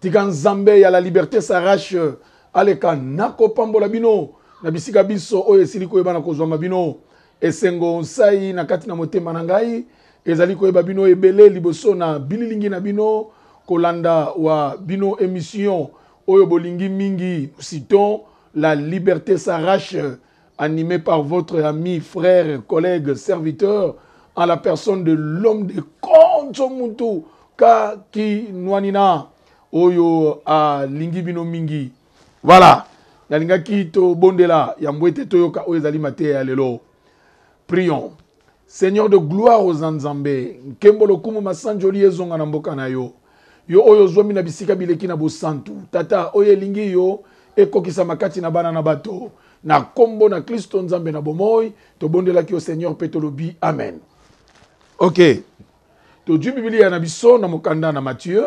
Tika Nzambe ya la liberte s'arrache aleka nako pambola bino na bisika binso oyo esili koyeba na kozwama bino. Esengo nsai na kati na motema na ngai ezali koyeba bino ebele liboso na bililingi na bino kolanda wa bino emission oyo bolingi mingi Mousiton la liberte s'arrache. Anime par votre ami, frère, collègue, serviteur, en la personne de l'homme de Konzo Mutu Ka Kinwanina, oyo alingi bino mingi. Voilà, nalingaki tobondela yambo ete toyoka oyo ezali mateya ya lelo. Prions. Seigneur de gloire oza Nzambe, nkembo, lokumu, masanjoli ezonga na mboka na yo. Yo oyo ozwami na bisika bileki na bosantu. Tata, oyo elingi yo ekokisama kati na bana na bato. Na kombo na Klisto Nzambe na bomoi, tobondelaki yo Seigneur mpe tolobi amen. Ok. Todjwi Bibilia na biso na mokanda na Mathieu.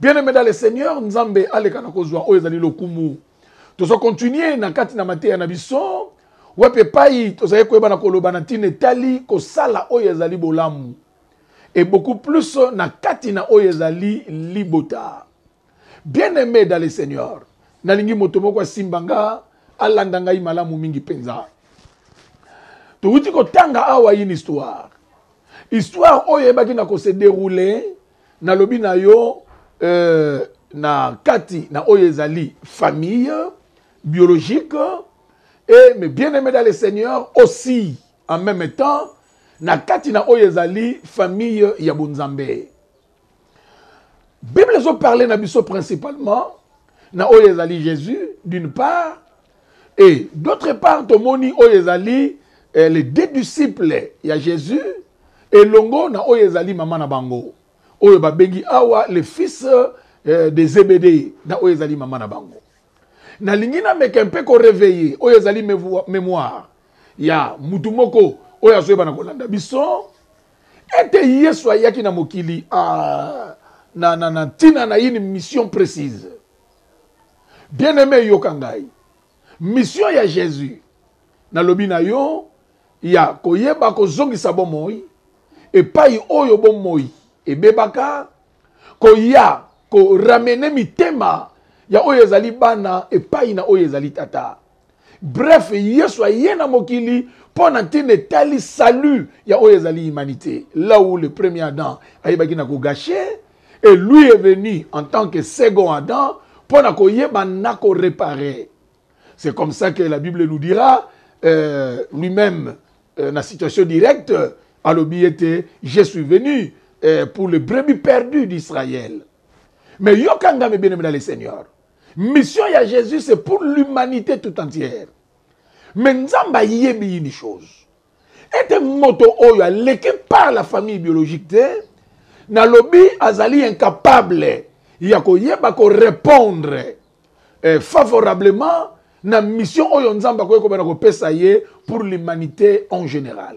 bien aimé dans le seigneur nzambe aleka na kozwa oyo ezali lokumu tozo continue na kati na mateya na biso wapi epai tozali koyeba na koloba na ntina etali kosala oyo ezali bolamu et beaucoup plus na kati na oyo ezali libota bien aimé dans le seigneur nalingi moto moko asimba nga alanda ngai malamu mingi mpenza towuti kotanga awa une histoire histoire oyo eyebaki na kose deroule Nalobi na yo euh, na kati na oyo ezali famille biologique et mes bien-aimés dans le Seigneur aussi en même temps na kati na oyo ezali famille ya bonzambe bible ezoparle na biso principalement na oyo ezali jésus d'une part Et d'autre part tomoni oyo ezali eh, les deux disciples ya Jésus elongo na oyo ezali mama na bango oyo babengi awa le fils eh, de Zebede na oyo ezali mama na bango nalingi nameka mpe koreveille oyo ezali memoire ya mutu moko oyo azoyeba na kolanda biso ete yesu ayaki na mokili a, ah, na, na, na ntina na une mission précise Bien aime yoka ngai mission ya Jesus na lobi na yo ya koyeba kozongisa bomoi epai oyo bomoi ebebaka koya ko ramene mitema ya oyo ezali bana epai na oyo ezali tata Bref, Yesu aye na mokili mpo na ntina etali salut ya oyo ezali humanité. Là où le premier Adam ayebaki na ko gâcher, et lui est venu en tant que second Adam mpo na koyeba na ko reparer. C'est comme ça que la Bible nous dira euh, lui-même euh, na situation directe alobi ete je suis venu euh, pour le brebis perdu d'Israël. Mais yokanga me bien aimé dans le Seigneur. Mission ya Jesus c'est pour l'humanité tout entière. Mais Nzambe ayebi une chose. Ete moto oyo aleki par la famille biologique te, nalobi azali incapable ya koyeba ko répondre eh, favorablement na mission oyo Nzambe akoki kobana kopesa ye pour l'humanité en général.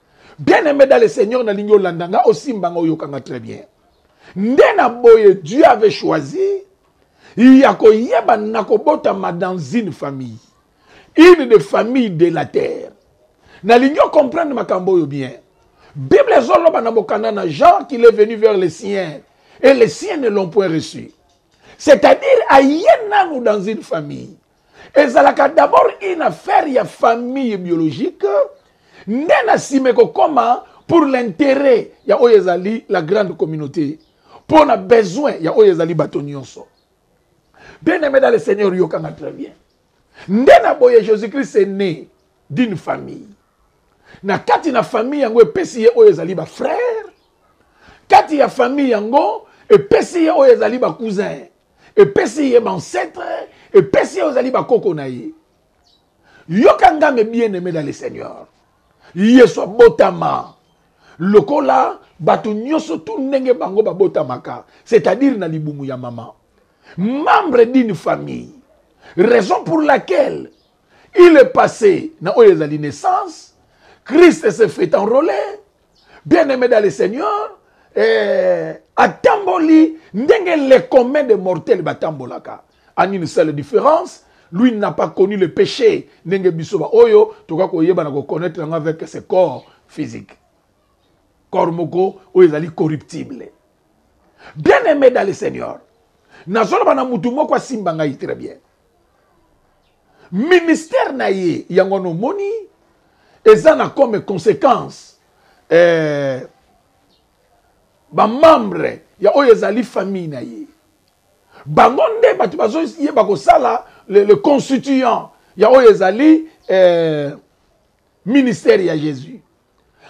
Bien aime dans le Seigneur, na lingi olanda nga, osimba nga, oyoka nga très bien. Nde na boye Dieu avait choisi ya koyeba na kobotama dans une famille, une des familles de la terre. Na lingi o comprendre makambo oyo bien. Bible ezoloba na mokanda na Jean qu'il est venu vers les siens et les siens ne l'ont point reçu. C'est-à-dire aye nanu dans une famille. ezalaka d'abord une affaire ya famille biologique nde na nsima ekokoma pour l'intérêt ya oyo ezali la grande communauté mpo na besoin ya oyo ezali bato nyonso bien aimé dans le seigneur yokanga très bien nde na boye jésus christ est né d'une famille na kati na famille yango epesi ye oyo ezali bafrère kati ya famille yango epesi ye oyo ezali bacousin epesi ye bancetre epesi ye ozali bakoko na ye yoka ngambe bien aime dans le seigneur yesu abotama lokola bato nyonso tu ndenge bango babotamaka c'est-à-dire na libumu ya mama membre d'une famille raison pour laquelle il est passé na oyo ezali naissance christ se fait enrole bien aime dans le seigneur eh, atamboli ndenge le commun de mortel batambolaka en une seule différence lui n'a pas connu le péché ndenge biso baoyo tokoki koyebana koconnaître yango avec ce corps physique corps moko oyo ezali corruptible bien aime dans le seigneur nazoloba na motu moko asimba ngai très bien Ministère na ye yango wana omoni eza na comme consequence eh, ba membre ya oyo ezali famille na ye bango nde bato bazoyeba kosala le, le constituant ya oyo ezali eh, ministère ya Jésus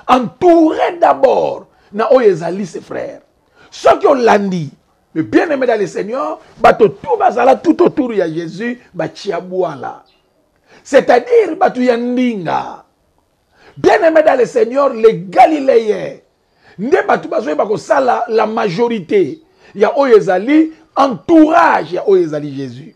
Entouré d'abord na oyo ezali ses frères. Soki olandi le bien-aimé dans le Seigneur, bato tout bazala tout autour ya Jésus ba tshiabuala. C'est-à-dire bato ya ndinga. Bien-aimé dans le Seigneur, les Galiléens nde bato bazoyeba kosala la majorité ya oyo ezali entourage ya oyo ezali Jésus.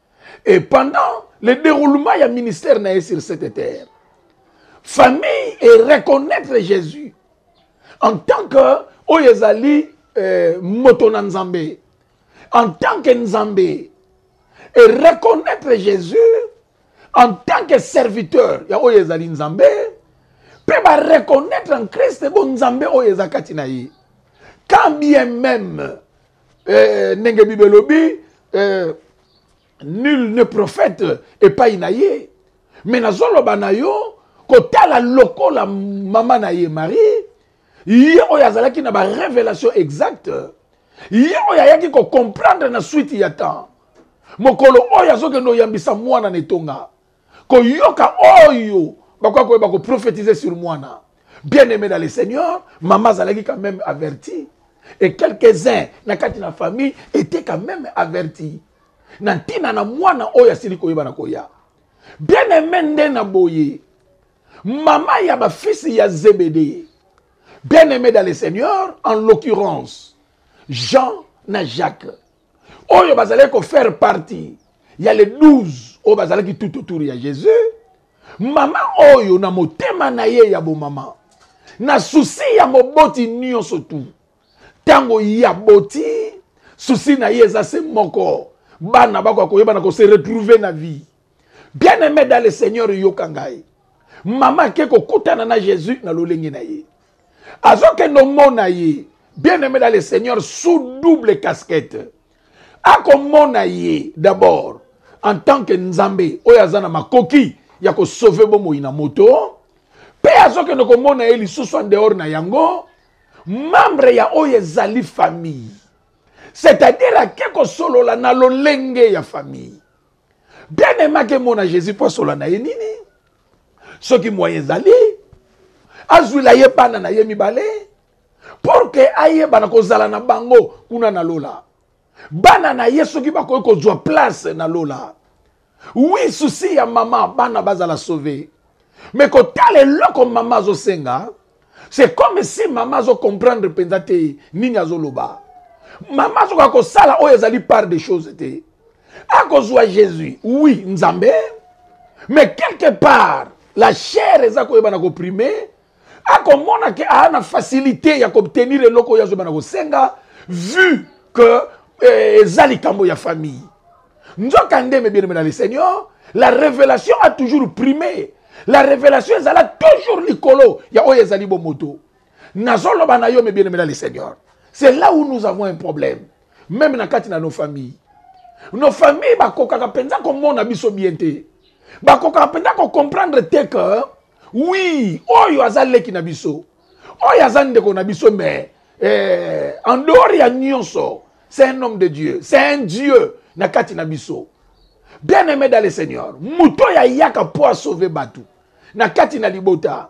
et pendant le déroulement ya ministère na ye sur cette terre famille et reconnaître jésus en tant que oyo ezali eh, moto na nzambe en tant que nzambe et reconnaître jésus en tant que serviteur ya oyo ezali nzambe mpe bareconnaitre en christ bonzambe oyo eza kati na ye quand bien même eh, ndenge bible elobi eh, nul ne prophète epai na ye me nazoloba na yo kotala lokola mama na ye marie ye oyo azalaki na barévélation exacte ye oyo ayaki kocomprendre na suite ya temps mokolo oyo azokende oyambisa mwana na etonga koyoka oyo bakoya koyeba ko prophétiser sur mwana bien aimé dans le seigneur mama azalaki quand même averti et quelques-uns na kati na famille était quand même averti na ntina na mwana oyo asili koyeba na koya bien aimé nde na boye mama ya bafisi ya zebede bien aimé dans le seigneur en l'occurrence jean na jacques oyo bazalaki kofaire partie ya le 12 oyo bazalaki tout autour ya jésus mama oyo na motema na ye ya bomama na susi ya moboti nyonso tu ntango ya boti susi na ye eza se moko bana bakoka koyebana kose retrouve na vie Bien aime dans le Seigneur yoka ngai. Mama ake kokutana na Jésus na lolenge na ye. Azokende omona ye. Bien aime dans le Seigneur sous double casquette. Akomona ye d'abord en tant que Nzambe oyo aza na makoki ya ko sauver bomoi na moto. Pe azokende komona ye lisusu en dehors na yango membre ya oyo ezali famille. C'est-à-dire ake kosolola na lolenge ya famille. bien aime akemona jésus mpo asola na ye nini soki moyen ezali azwila ye bana na ye mibale pour ke ayebana kozala na bango kuna na lola bana na ye soki bakoki kozwa place na lola wi susi ya mama bana bazala sauve me kotala eloko mama azosenga c'est comme si mama azo comprendre mpenza te nini azoloba mama azokoka kosala oyo ezali part des choses te akozwa jésus oui nzambe mais quelque part la chair eza koyebana koprime akomona ke aa na facilité ya koobtenir eloko oyo azoyebana kosenga vu que eh, eza likambo ya famille nzokande mes bien aimé dans le seigneur la révélation a toujours primé la révélation ezala toujours likolo ya oyo ezali bomoto nazoloba na yo mes bien aimé dans le seigneur c'est là où nous avons un problème même na kati na nos familles nos familles bakokaka mpenza komona biso bien te bakokaka mpenza kocomprendre te que oui oyo aza leki na biso oyo aza ndeko na biso mais eh, en dehors ya nyonso c'est un homme de dieu c'est un dieu na kati na biso bien aimé dans le seigneur moto oyo ayaka mpo asauve bato na kati na libota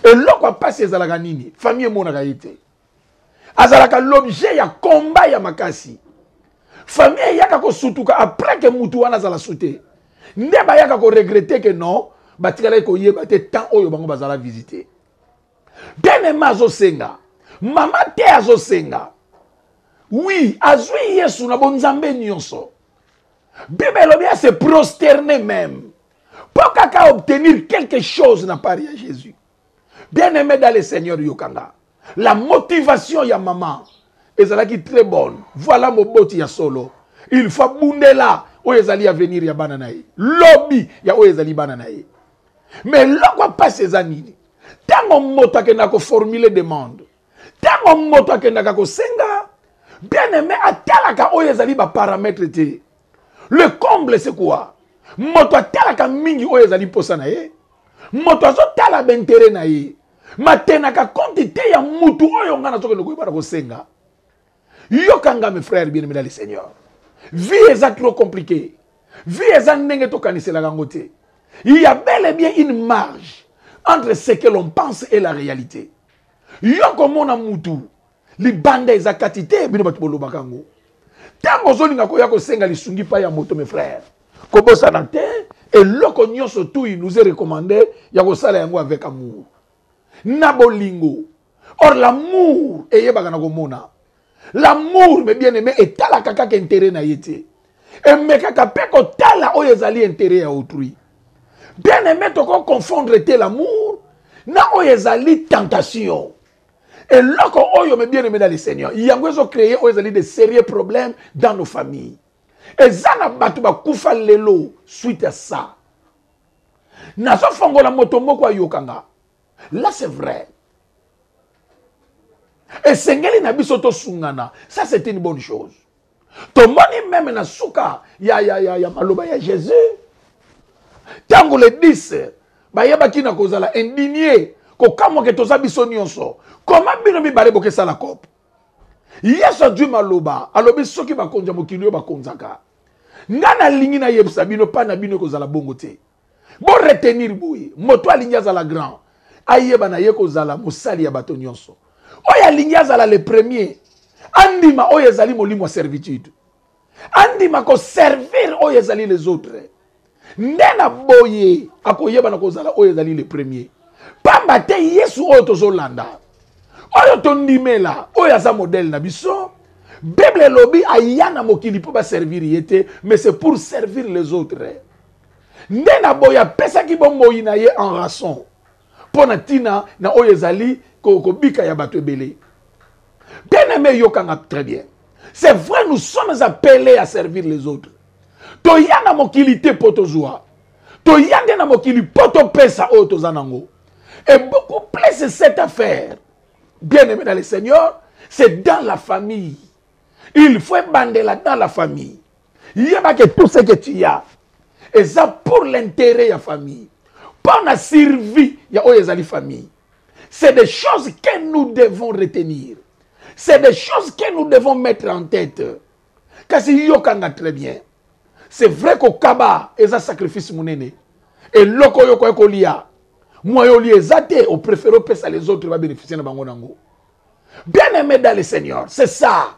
eloko ya mpasi ezalaka nini famille emonaka ye te azalaka l'objet ya combat ya makasi famille eyaka kosutuka après ke mutu wana azala sute nde bayaka koregrete ke non batikalaki koyeba te temps oyo bango bazala visite Benema azosenga. Mama te azosenga. Oui, azui Yesu na bonzambe nyonso. Bible elobi à se prosterner même. Pour kaka obtenir quelque chose na part ya Jésus. Bien aimé dans le Seigneur Yokanga. La motivation ya maman ezalaki très bonne. Voilà moboti ya solo. Il faut bundela oyo ezali avenir ya bana na ye. Lobi ya oyo ezali bana na ye. mais eloko ya mpasi eza nini ntango moto akendaka koformule demande ntango moto akendaka kosenga bien aime atalaka oyo ezali baparametre te le comble se quoi moto atalaka mingi oyo ezali mposa na ye moto azotala baintere na ye matenaka konti te ya mutu oyo ngai nazokende koyeba na kosenga yoka nga mes frères bien aimé dans le seigneur vie eza trop compliqué vie eza ndenge tokaniselaka yango te il y a bel et bien une marge entre ce que l'on pense et la réalité yo komona mutu libanda eza kati te bino bato bolobaka yango ntango ozolinga koya kosenga lisungi mpai ya moto mes frères kobosana te eloko nyonso tui nous est recommandé ya kosala yango avec amour na bolingo or l'amour eyebaka na komona l'amour me bien aimé etalaka kaka intérêt na ye te emekaka mpe kotala oyo ezali intérêt ya autrui bien aimé toko confondre te l'amour na oyo ezali tentation eloko oyo me bien aimé na le seigneur yango ezo créer oyo ezali de sérieux problème dans nos familles eza na bato bakufa lelo suite ya ça nazofongola moto moko ayokanga Là c'est vrai. esengeli na biso tosungana ça c'est une bonne chose tomoni meme na suka ya, ya, ya, ya maloba ya jésus ntango le 10 bayebaki na kozala indigne kokamwa ke toza biso nyonso koma bino mibale bokesala kope yesu azwi maloba alobi soki bakonzi ya mokili oyo bakonzaka ngai nalingi nayebisa bino mpa na bino ekozala bongo te Bo retenir boye, moto alingi azala grand, ayeba na ye kozala mosali ya bato nyonso. Oyo alingi azala le premier, andima oyo ezali molimo ya servitude. Andima ko servir oyo ezali les autres. Nde na boye akoyeba na kozala oyo ezali le premier. Pamba te Yesu oyo tozolanda, oyo tondimela, oyo aza modèle na biso, Bible elobi aya na mokili mpo ba servir ye te, mais c'est pour servir les autres. Nde na boye apesaki bomoi na ye en rançon mpo na ntina na oyo ezali kobika ya bato ebele. Bien aime yoka nga très bien. C'est vrai nous sommes appelés à servir les autres. Toya na mokili te mpo tozwa. Toya nde na mokili mpo topesa oyo toza nango. Et beaucoup plus cette affaire, bien aime dans le Seigneur, c'est dans la famille. Il faut ebandela dans la famille. Yeba que tout ce que tu as eza pour l'intérêt ya famille. Mpo na survie ya oyo ezali famille. C'est des choses que nous devons retenir. C'est des choses que nous devons mettre en tête. Kasi yokanga très bien. C'est vrai ko kaba eza sacrifice munene. Eloko yo ko ekolia. Moi yo li eza te au préféré pesa les autres va bénéficier na bango nango. Bien aimé dans le Seigneur, c'est ça.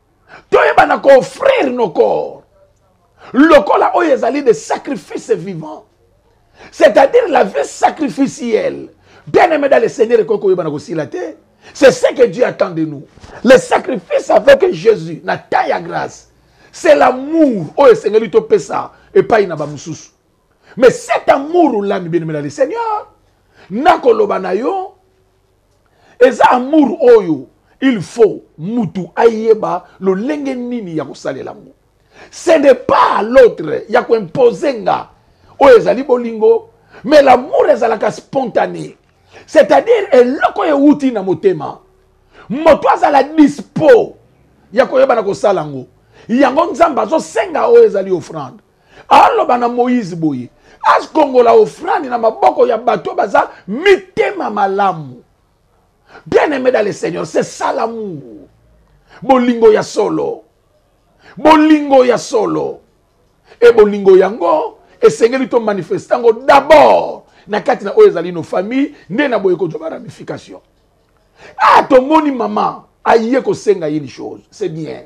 toyebana ko offrir nos corps lokola oyo ezali de sacrifice vivant c'est-à-dire la vie sacrificielle bien aimé dans le seigneur ekoki koyebana kosila te c'est ce que dieu attend de nous le sacrifice avec jésus na temps ya grâce c'est l'amour oyo esengeli topesa epai na bamosusu mais cet amour olami bien aimé dans le seigneur nakoloba na yo eza amour oyo il faut mutu ayeba lolenge nini ya kosalela yango ce n'est pas à l'autre ya koimpose nga oyo ezali bolingo mais l'amour ezalaka spontané c'est-à-dire eloko ewuti na motema moto azala dispo ya koyeba na kosala yango yango nzambe azosenga oyo ezali offrande aloba na moïse boye akongola ofrande na maboko ya bato baza mitema malamu bien aimé dans le seigneur c'est ça l'amour bolingo ya solo bolingo ya solo e bolingo yango esengeli to manifeste yango d'abord na kati na oyo ezali no famille nde na boye kozwa ba ramification ah tomoni mama aye kosenga ye une chose c'est bien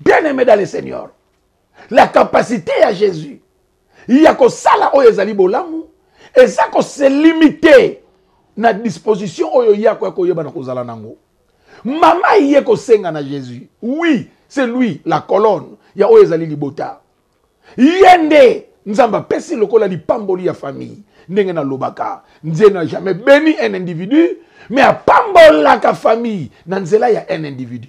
bien aime dans le seigneur la capacité ya jésus ya kosala oyo ezali bolamu eza koselimite na disposition oyo ye akoya koyeba na kozala nango mama ye kosenga na jésus oui c'est lui la colonne ya oyo ezali libota ye nde nzambe apesi lokola lipamboli ya famille ndenge nalobaka nzee na jamais beni un individu mais apambolaka famille na nzela ya un individu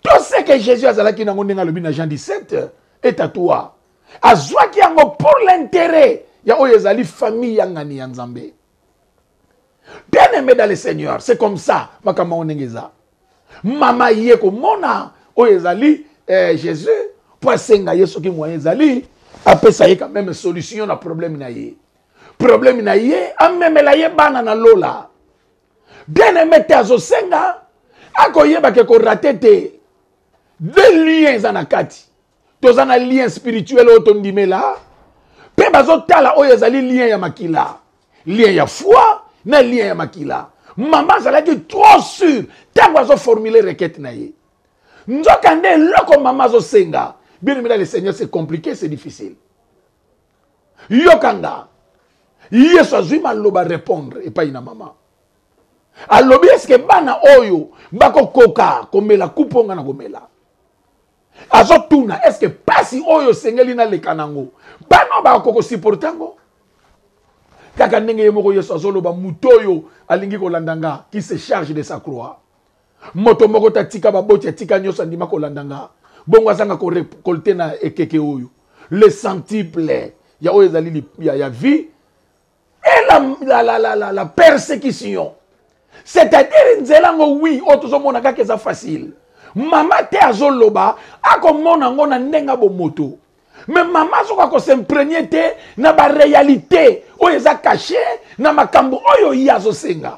Tout ce que Jésus azalaki nango ndenge alobi na Jean 17 est à toi. Azwaki yango pour l'intérêt ya oyo ezali famille ya ngani ya Nzambe. Bien aimé dans le Seigneur, c'est comme ça makambo yango ndenge eza. Mama ye komona oyo ezali eh, Jésus mpo asenga ye soki moyen ezali apesa ye quand même solution na problème na ye. Problème na ye amemela ye bana na lola. bien aime te azosenga akoyeba ke korate te de lien eza na kati toza na lien spirituel oyo tondimela mpe bazotala oyo ezali lien ya makila lien ya foi na lien ya makila mama azalaki trop sur ntango azoformule requete na ye nzoka nde eloko mama azosenga bien aimela le seigneur c'est compliqué c'est difficile yoka nga yesu azwi maloba repondre epai na mama alobi eske bana oyo bakokoka komela kupo nga na komela azotuna eske mpasi oyo esengeli naleka nango bana bakokoka kosiporte yango kaka ndenge ye moko yesu azoloba moto oyo alingi kolanda nga qui se charge de sa croix Moto moko te atika baboti, atika nyoso andima kolanda nga. Bongo azanga ko recolter na ekeke oyo le centuple ya oyo ezali ya, ya vie et la, la, la, la, la, la persecution c'est-à-dire nzela ngo oui oyo tozomona kaka eza facile mama te azoloba akomona yango na ndenge ya bomoto me mama azoka kosimprenie te na barealité oyo eza kashe na makambo oyo ye azosenga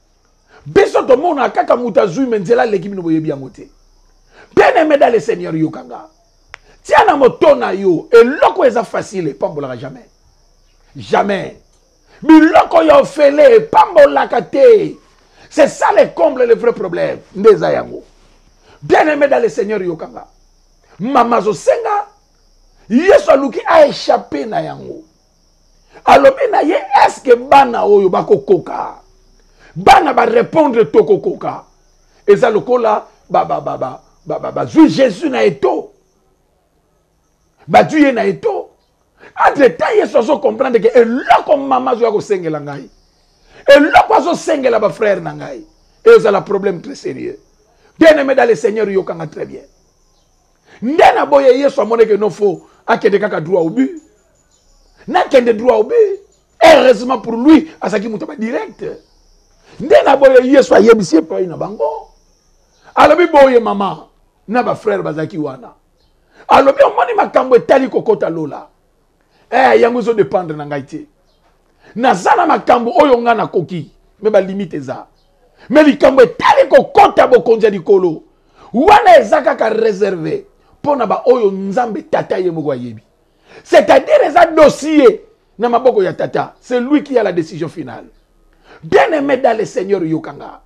biso tomona kaka moto azwi me nzela aleki bino boyebi yango te bien aime dans le seigneur yoka nga tia na moto na yo eloko eza facile epambolaka jamais jamais biloko ya ofele epambolaka te c'est ça le comble le vrai problème nde eza yango bien aime dans le seigneur yoka nga mama azosenga yesu aluki aechappe na yango alobi na ye eske bana oyo bakokoka bana barépondre tokokoka eza lokola bazwi jésus na eto bazwi ye na eto entre temps yesu azocomprendre ke eloko mama azoya kosengela ngai eloko azosengela bafrère na ngai ezala problème très sérieux bien aimé dans le seigneur yokanga très bien nde na boye yesu amonaki eno fo akende kaka droit au but nakende droit au but heureusement pour lui azalaki moto ya badirect nde na boye yesu ayebisi epai na bango alobi boye mama na bafrere bazalaki wana alobi omoni makambo etali kokota lola eh yango ezo dépendre na ngai te naza na makambo oyo ngai nakoki me balimite eza me likambo etali kokɔta bokonzi ya likolo wana eza kaka réserve mpo na baoyo nzambe tata ye moko ayebi c'est-à-dire eza dossier na maboko ya tata c'est lui qui a la décision finale bien aimé dans le seigneur yokanga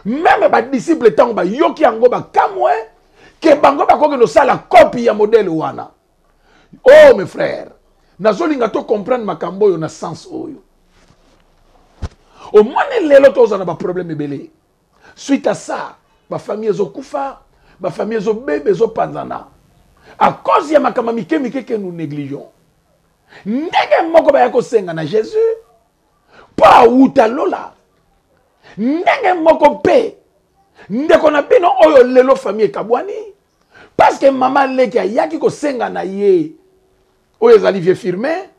meme badisiple ntango bayoki yango bakamwe ke bango bakokende osala kopi ya modele wana Oh mes frères, nazolinga to comprendre makambo oyo na sens oyo. Omoni lelo tozana ba problème ebele. Suite à ça, ba famille ezokufa, ba famille ezobeba ezopanzana. À cause ya makambo mike mike que nous négligeons. Ndenge moko baya kosenga na Jésus mpo awuta lola. Ndenge moko mpe ndeko na bino oyo lelo famille ekabwani parce que mama leki ayaki kosenga na ye oyo ezali vie firme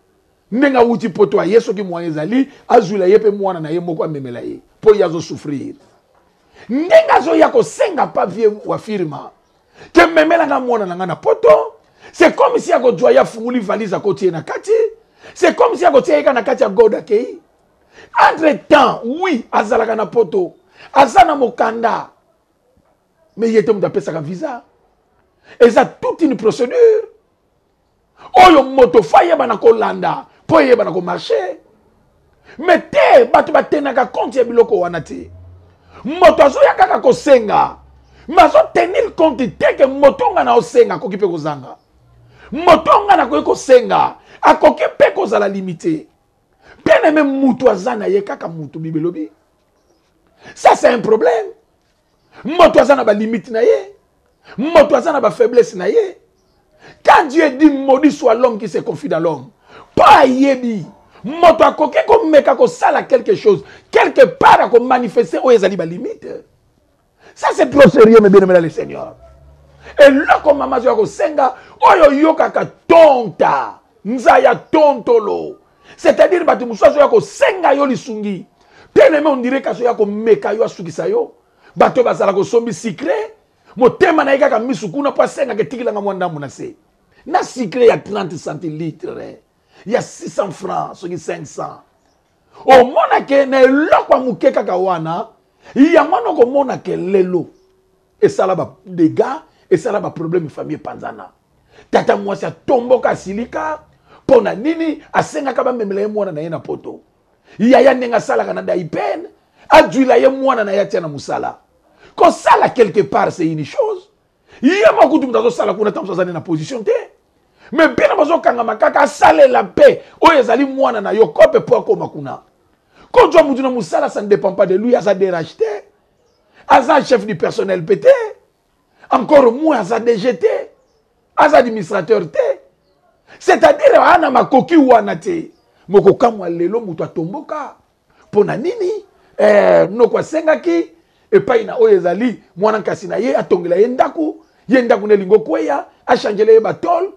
ndenge awuti poto aye soki moyen ezali azwila ye mpe mwana na ye moko amemela ye mpo ye azosouffrir ndenge azoya kosenga pa vie wa firma ke memela nga mwana na nga na poto c'est comme si akozwa ye afunguli valise akoti ye na kati c'est comme si akotia ye ka na kati ya god akei entre temps oui azalaka na poto aza na mokanda mais ye te moto apesaka visa eza toute une procédure oyo moto fo ayebana kolanda mpo eyebana komarche me te bato batenaka konte ya biloko wana te moto azoya kaka kosenga me azotenir konte te ke moto nga na osenga akoki mpe kozanga moto nga nakoki kosenga akoki mpe kozala limite mpe na me moto aza na ye kaka moto bibelobi ça c'est un problème moto aza na balimite na ye moto aza na bafaiblesse na ye quand dieu dit maudit soit l'homme qui se confie dans l'homme mpo ayebi moto akoki komeka kosala quelque chose quelque part akomanifeste oyo ezali balimite ça c'est trop sérieux mebienamela le seigneur eloko mama azoya kosenga oyo oyokaka tonta nzaya tontolo c'est-à-dire bato mosusu azoya kosenga yo lisungi teleme ondire kasi oya komeka yo asukisa yo bato bazala kosombi sikre motema na ye kaka misu kuna mpo asengaka etikilanga mwa ndambo na se na sikre ya 30 centilitre ya 600 francs soki 500 omonake na eloko ya moke kaka wana yango wana okomonake lelo esala ba degats esala ba problème famille epanzana tata mwasi atomboka asilika mpo na nini asengaka bamemela ye mwana na ye na poto yaya ndenge asalaka na daipen ajwila ye mwana na ye atia na mosala kosala quelque part c'est une chose ye moko kutu moto azosala kuna ntango azali na position te me bino bozokangama kaka asalela mpe oyo ezali mwana na yo kope mpo akoma kuna kozwa motu na mosala ça ne dépend pas de lui aza derage te aza chef du personnel mpe te encore moi aza dg te aza administrateur te c'est-à-dire aa na makoki wana te mokokamwa lelo moto atomboka mpo na nini eh, noko asengaki epai na oyo ezali mwana nkasi na ye atongela ye ndako ye ndako na elingo kweya achangele ye batole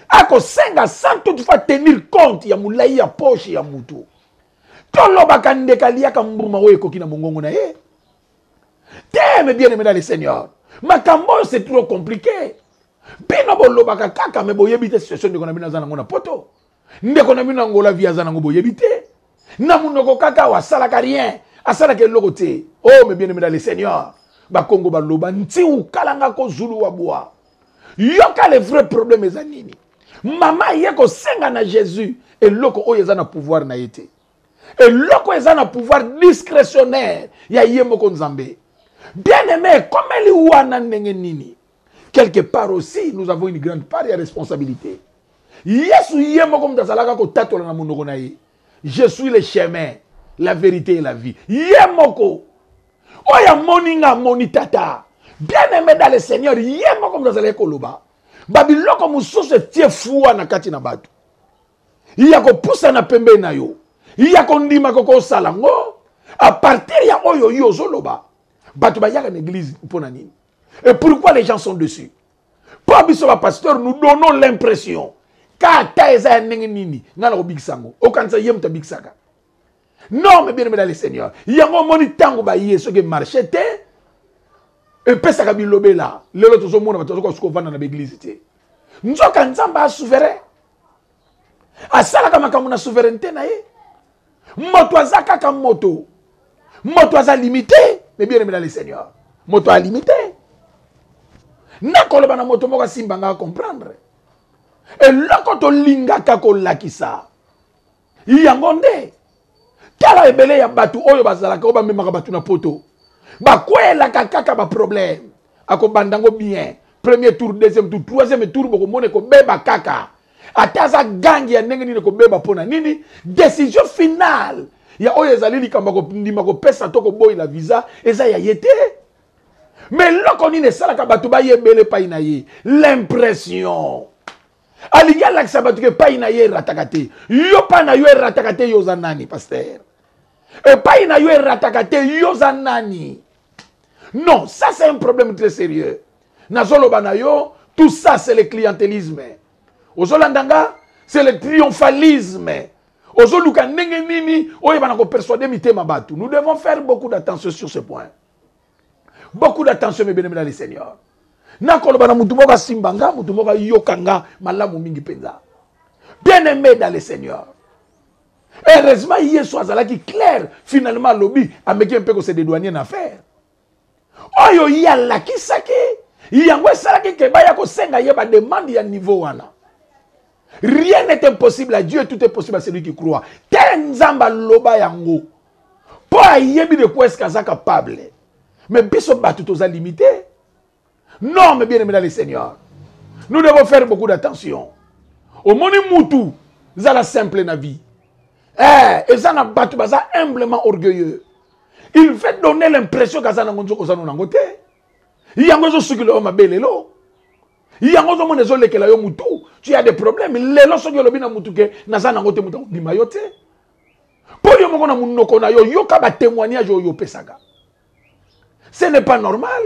akosenga sans toutefois tenir compte ya molai ya poche ya moto tolobaka ndeka aliaka mbuma oyo ekoki na mongongo na ye te me bien aimé dans le seigneur makambo oyo c'est trop compliqué bino bolobaka kaka me boyebi te situation ndeko na bino aza nango na poto ndeko na bino na ngola vie aza nango boyebi te na monoko kaka awa asalaka rien asalaka eloko te o oh, me bien aimé dans le seigneur bakongo baloba ntiukalanga kozulu wa bwa yoka le vrai problème eza nini mama aye kosenga na jésus eloko oyo eza na pouvoir na ye te eloko eza na pouvoir discrétionnaire ya ye moko nzambe bien aimé ekomeli wana ndenge nini quelque part aussi nous avons une grande part ya responsabilité yesu ye moko moto azalaka kotatola na monoko na ye je suis le chemin la vérité et la vie ye moko oyo amoni nga amoni tata bien aimé dans le seigneur ye moko moto azalaki koloba babiloko mosusu etie fua na kati na bato ya kopusana pembeni na yo ya kondima kokosala ngo apartir ya oyo yo ozoloba bato bayaka na eglise mpo na nini et pourquoi les gens sont dessus mpo biso bapasteur nous donnons l'impression kata eza ya ndenge nini ngai nakobikisa yango okanisa ye moto abikisaka non me bien aimé dans le seigneur yango omoni ntango baye soki emarche te epesaka bilobela lelo tozomona bato bazokoka soki kovanda na baeglize te nzoka nzambe asouverain asalaka makambo na souveraineté na ye moto aza kaka moto moto aza limite me bien aimé dans le seigneur moto alimite nakoloba na moto moko asimba ngai acomprendre eloko tolingaka kolakisa yango nde tala ebele ya bato oyo bazalaka oyo bamemaka bato na poto bakwelaka kaka baproblème akobanda yango bien premier tour deuxième tour troisième tour bokomona ekobeba kaka ata aza gangi ya ndenge nini ekobeba mpo na nini décision finale ya oyo ezali likambo ya kondima kopesa to koboyela visa eza ya ye te me eloko nini esalaka bato bayebele epai na ye l'impression alingi alakisa bato ke epai na ye erataka te yo epai na yo erataka te yo oza nani paster epai na yo erataka te yo oza nani non ça c'est un problème très sérieux nazoloba na yo tout ça c'est le clientélisme ozolanda nga c'est le triomphalisme ozoluka ndenge nini oyebana kopersuade mitema bato nous devons faire beaucoup d'attention sur ce point beaucoup d'attention mes bien-aimés dans le Seigneur nakoloba na motu moko asimba nga motu moko ayoka nga malamu mingi mpenza bien-aimé dans le Seigneur heureusement yesu azalaki claire finalement alobi ameki mpe kose dedouanier na affaire oyo ye alakisaki yango esalaki ke baya kosenga ye bademande ya niveau wana rien n'est impossible à dieu tout est possible à celui qui croit te nzambe aloba yango mpo ayebi de quoi eske aza capable mais biso bato toza limite non mais bien aimé dans le seigneur nous devons faire beaucoup d'attention omoni mutu zala simple na vie eh, eza na bato baza humblement orgueilleux il veut donner l'impression kaza nango nzoka oza no nango te yango ezosukila yo mabe lelo yango ozomona ezolekela yo mutu tu as des problèmes lelo soki olobi na mutu ke naza nango te mutu akobima yo te mpo yo moko na monoko na yo yoka batémoignage oyo opesaka ce n'est pas normal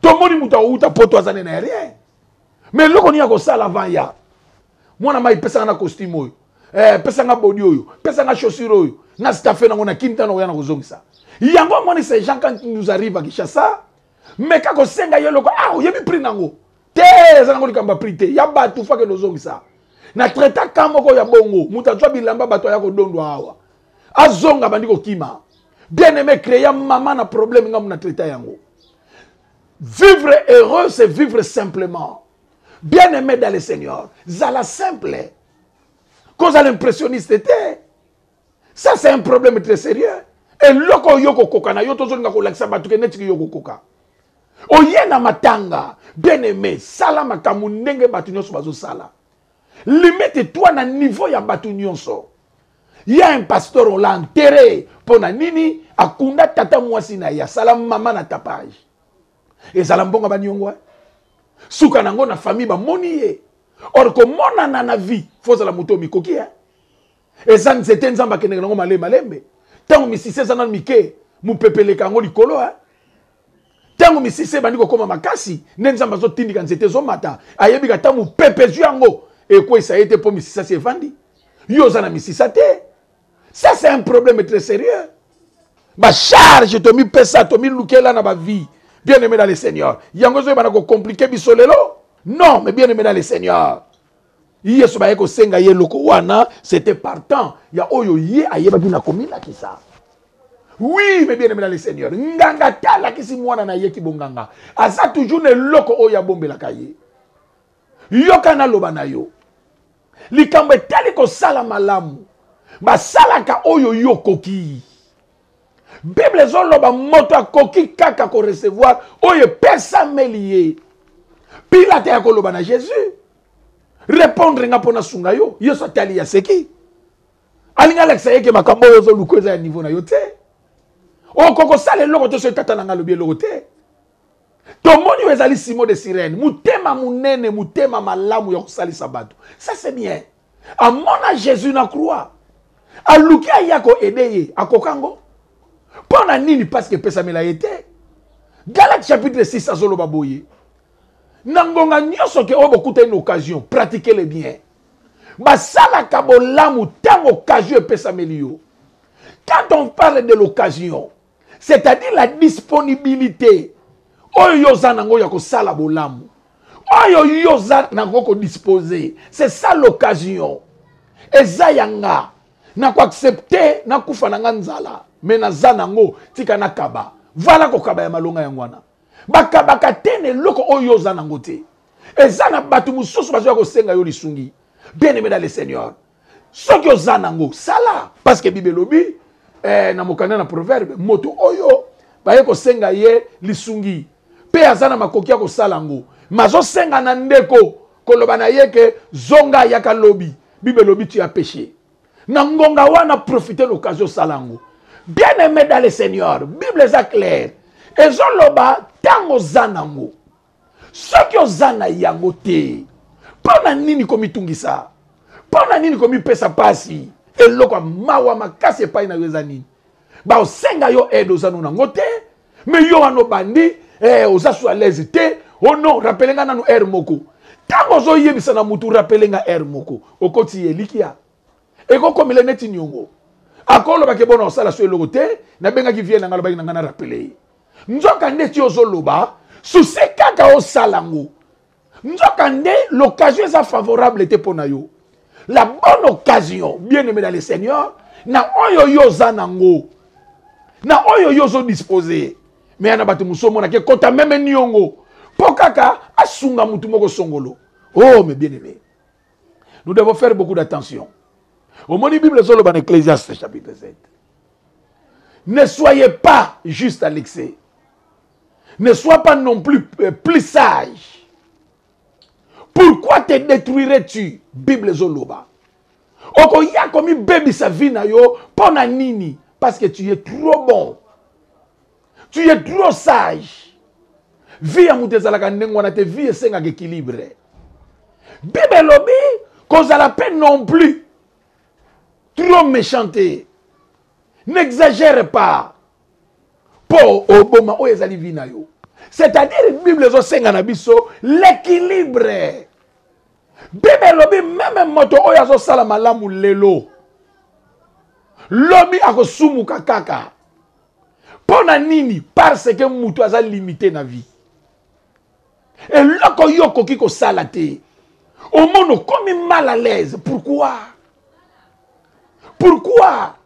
tomoni moto akouta poto aza nene ya rien mais eloko nini akosala avant ya mwana mai pesaka na costume oyo eh, pesanga bodi oyo pesanga chaussure oyo na stafe nango na kintana oya na kozongisa yango amoni ces gens quand nous arrive à kinshasa meka kosenga ye eloko ah oyebi prix nango te eza nango likambo ya prix te ya bato fakende ozongisa na traita ka moko ya bongo moto azwa bilamba bato aya kodondwa awa azonga bandi kokima bien aime créa mama na problème ngambo na traita yango vivre heureux c'est vivre simplement bien aime dans le seigneur zala simple kozala impressionniste te ça c'est un problème très sérieux eloko oyo okokoka na yo tozolinga kolakisa bato ke netiki yo okokoka oye na matanga bien aime sala makambo ndenge bato nyonso bazosala limite toi na niveau ya bato nyonso ya un pasteur ola enterre mpo na nini akunda tata mwasi na ye asala mama na tapage ezala mbongo baniongo eh? suka na yango na famille bamoni ye or komonana na vie fozala moto omikoki eh? eza nzete nzambe akendeke nango malembe malembe ntango misisi eza nano mike mopepe eleka yango likolo eh? ntango misisi ebandi kokoma makasi nde nzambe azotindika nzete ezomata ayebika ata mopepe ezwi yango ekweisa ye te mpo misisa si evandi yo oza na misisa te ça c'est un problème très sérieux bacharge tomipesa tomilukela na bavie bien aimé dans le seigneur yango ezoyebana kocomplike biso lelo non mais bien aimé dans le seigneur Yesu baye kosenga ye eloko wana, c'était partant ya oyo ye ayebaki na komilakisa. Oui, mes bien-aimés dans le Seigneur, nganga ta alakisi mwana na ye kibonganga, aza toujours na eloko oyo abombelaka ye. Yoka naloba na yo, likambo etali kosala malamu, basalaka oyo yo okoki. bible ezoloba moto akoki kaka korecevoir oyo epesameli ye pilate ya koloba na jésus repondre nga mpo nasunga yo yesu atali ya seki alingi alakisa ye ke makambo oyo ozoluka eza ya niveau na yo te okoki kosala eloko te soki tata na ngai alobi eloko te tomoni oyo ezali simo de sirene motema monene motema malamu ya kosalisa bato ça c'est bien amona jésus na croix aluki aya koede ye akoka ngo mpo na nini paske epesamela ye te galate chapitre 6 azoloba boye na ngonga nyonso ke oyo bokutani na occasion pratike le bien basalaka bolamu ntango occasion epesameli yo quand on parle de l'occasion c'est-à-dire la disponibilité oyo yo oza nango ya kosala bolamu oyo yo oza nango kodispose c'est ça l'occasion eza ya nga na koaccepte nakufa na nga nzala me naza nango tika nakaba vala kokaba ya malonga yango wana bakabaka te na eloko oyo yo oza nango te eza na bato mosusu bazoya kosenga yo lisungi bien aimé dans le seigneur soki oza nango sala parce que bible elobi eh, na mokanda na proverbe moto oyo baye kosenga ye lisungi mpe aza na makoki ya kosala yango mazosenga na ndeko koloba na ye ke zonga ayaka lobi bible elobi tu ya peche na ngonga wana profite l'occasion osala yango bien aimé dans le seigneur bible eza claire ezoloba ntango oza nango soki oza na yango te mpo na nini komitungisa mpo na nini komipesa mpasi eloko ya mawa makasi epai na yo eza nini baosenga yo aide oza no nango te me yo wana obandi eh, oza su alaise te o oh non rapele nga nano aire moko ntango ozoyebisa na motu rapele nga aire moko okoti elikia ekokomela neti niongo akolobake bona osala so eloko te nabengaki vie na ngai alobaki na ngai na rapele ye nzoka nde ti ozo loba souci kaka osala ngo nzoka nde l'occasion eza favorable te pona yo la bonne occasion bien aimé dans le seigneur na oyo yo oza na ngo na oyo yo ozo dispose me ya na bato mosusu omonaka ekota meme niongo mpo kaka asunga motu moko songolo oh mes bien aimé nous devons faire beaucoup d'attention omoni bible ezoloba na ecclesiaste chapitre 7 Ne soyez pas juste à l'excès. Ne sois pas non plus euh, plus sage. Pourquoi te détruirais-tu Bible Zoloba. Okoya komi baby sa vie na yo pona nini parce que tu es trop bon. Tu es trop sage. Vie ya moto ezalaka ndenge wana te vie esengaka équilibre. Bible elobi kozala pe non plus trop méchante n'exagère pas mpo oboma oyo ezali vi na yo c'est-à-dire bible ezosenga na biso l'équilibre bible elobi meme moto oyo azosala malamu lelo lobi akosumuka kaka mpo na nini parce que moto aza limite na vie eloko yo okoki kosala te omona okomi mal à l'aise pourquoi pourquoi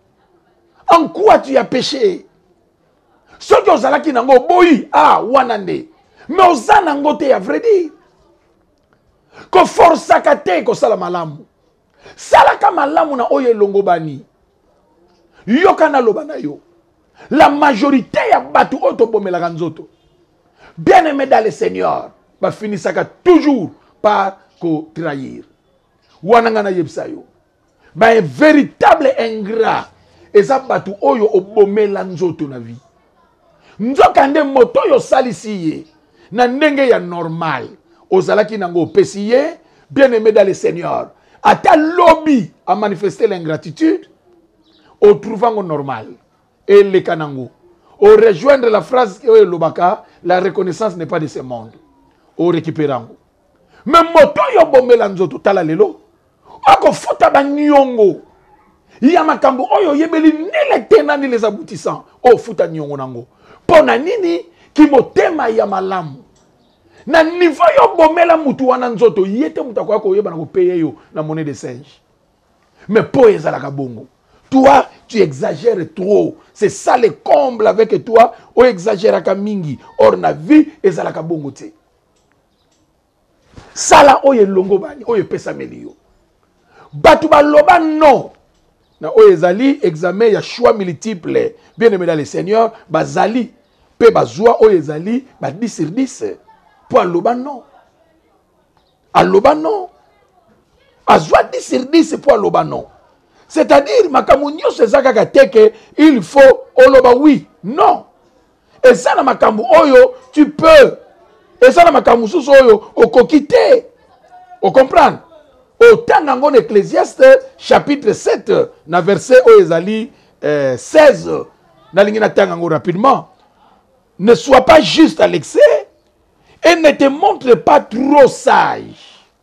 en quoi tu as péché soki ozalaki nango oboyi ah wana nde mais oza nango te ya vrai dire koforsaka te kosala malamu salaka malamu na oyo elongobani yoka naloba na yo la majorité ya bato oyo tobomelaka nzoto bien aimé dans le seigneur bafinisaka toujours par kotrahir wana ngai nayebisa yo bain véritable ingrat eza bato oyo obomela nzoto na vie nzokande moto oyo osalisi ye na ndenge ya normal ozalaki nango opesi ye bien aime dans le seigneur ata lobi amanifeste l'ingratitude otrouve yango normal eleka nango orejoindre la phrase oyo elobaka la reconnaissance n'est pas de ce monde orekipere yango me moto oyo obomela nzoto tala lelo akofuta baniongo ya makambo oyo oyebeli nile te na nile eza aboutissant oyo ofuta niongo nango mpo na nini kimotema ya malamu na niveau yo obomela mutu wana nzoto ye te moto akoya koyeba na kopeye yo na monnaie de singe mais mpo ezalaka bongo toi tu exagères trop c'est ça le comble avec toi oexagéraka mingi or na vie ezalaka bongo te sala oyo elongobani oyo epesameli yo bato baloba non na oyo ezali examen ya choix multiple bien aimé dans le seigneur bazali mpe bazwa oyo ezali ba 10 sur 10 mpo aloba non aloba non azwa 10 sur 10 mpo aloba non c'est-à-dire makambo nyonso eza kaka teke il faut oloba oui non eza na makambo oyo tu peux eza na makambo mosusu oyo okoki te ocomprendre otanga yango na ecclesiaste chapitre 7 na verset oyo ezali eh, 16 nalingi natanga yango rapidement ne sois pas juste à l'excès et ne te montre pas trop sage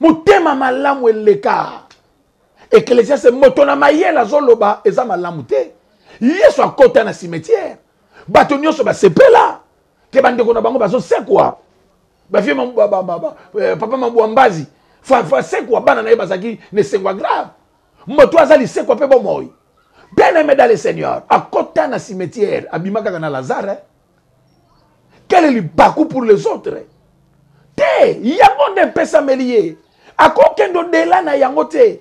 motema malamu eleka eklesiase moto na mayele azoloba eza malamu te yesu akota na cimetière bato nyonso basepela te bandeko na bango bazosekwa bafie eh, papa mabwambazi fasekwa bana na ye bazalaki na esengo ya grave moto aza lisekwa mpe bomoi bien aime dans le seigneur akota na cimetière abima kaka na lazare eh? kele libaku pour les autres te yango nde epesameli ye akokende odela na yango te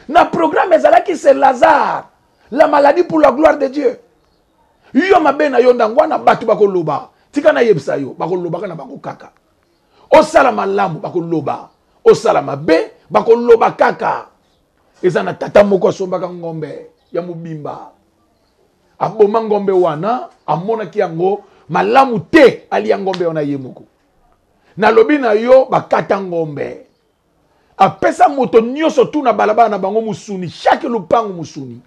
na programme ezalaki se lazare la maladie pour la gloire de dieu yo mabe na yo ndango wana bato bakoloba tika nayebisa yo bakolobaka na bango kaka osala malamu bakoloba osala mabe bakoloba kaka eza na tata moko asombaka ngombe ya mobimba aboma ngombe wana amonaki yango malamu te alia ngombe wana ye moko nalobi na yo bakata ngombe apesa moto nyonso tu na balabala na bango mosuni shake lupangu mosuni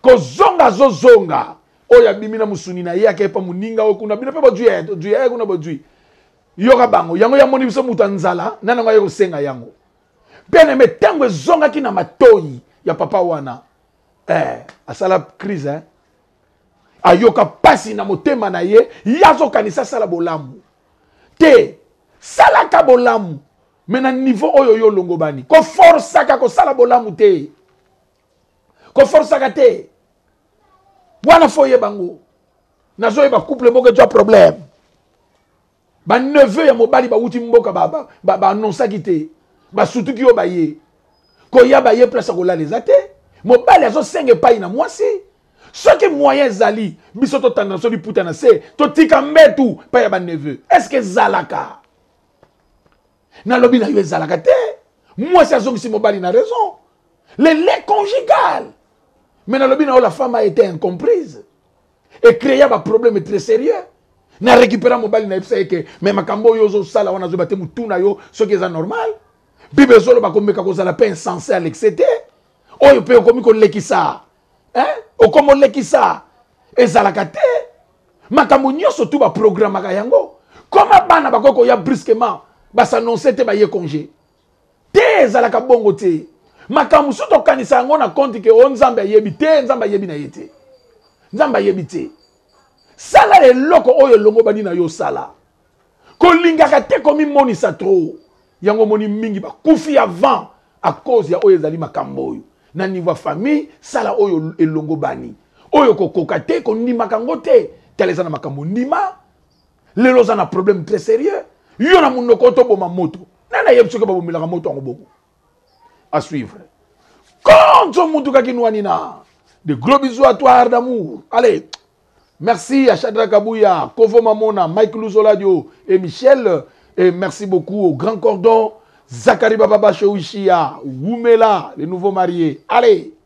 kozonga azozonga oyo abimi na mosuni na ye akei mpa moninga oyo kuna bino mpe bojui ya jui ya kuna bojui yoka bango yango yamoni biso moto ya nzala na nango aye kosenga yango mpe neme ntango ezongaki na matoi ya papa wana eh, asala crise hein? ayoka mpasi na motema na ye ye azokanisa asala bolamu te salaka bolamu me na niveau oyo yo olongobani koforsaka kosala bolamu te koforsaka te wana fo oyeba yango nazoyeba couple moko ejwa problème Ba neveu ya mobali bawuti mboka ba, ba, ba, ba annonsaki te. Basutuki yo baye. Koya baye place ya kolala eza te. Mobali azosenga epai na mwasi. Soki moyen ezali, biso totanda biso liputa na se, totika mbetu epai ya ba neveu. Est-ce que ezalaka? Nalobi na yo ezalaka te. Mwasi azongisi mobali na raison. Le lait conjugal. Mais nalobi na yo la femme a été incomprise. e crea ba problème très sérieux na récupéra mobali nayebisa ye ke me makambo oyo ozosala wana azoyeba te motu na yo soki eza normal bible ezoloba komeka kozala mpe insense à l'excès te oyo mpe okomi kolekisa okomi olekisa ezalaka te makambo nyonso tu baprogramaka yango koma bana bakoki koya brusquement basanonse te baye congé Te ezalaka bongo te. Makambo mosusu tokanisa yango na konti ke o oh, Nzambe ayebi te, Nzambe ayebi na ye te. Nzambe ayebi te. Sala eloko oyo elongobani na yo osala. Kolingaka te komimonisa trop. Yango omoni mingi bakufi avant à cause ya oyo ezali makambo oyo. Na niveau ya famille, sala oyo elongobani. Oyo kokoka te, kondimaka yango te. Tala eza na makambo ndima, lelo oza na problème très sérieux yo na monoko toboma moto nani ayebi soki babomelaka moto yango bongo à suivre konzo motuka kinwani na de gros bisous à toi art d'amour allez merci à Chadra Kabuya Kovo Mamona Mike Luzoladio et Michel et merci beaucoup au Grand Cordon Zachary Bababa Shouishia Wumela les nouveaux mariés allez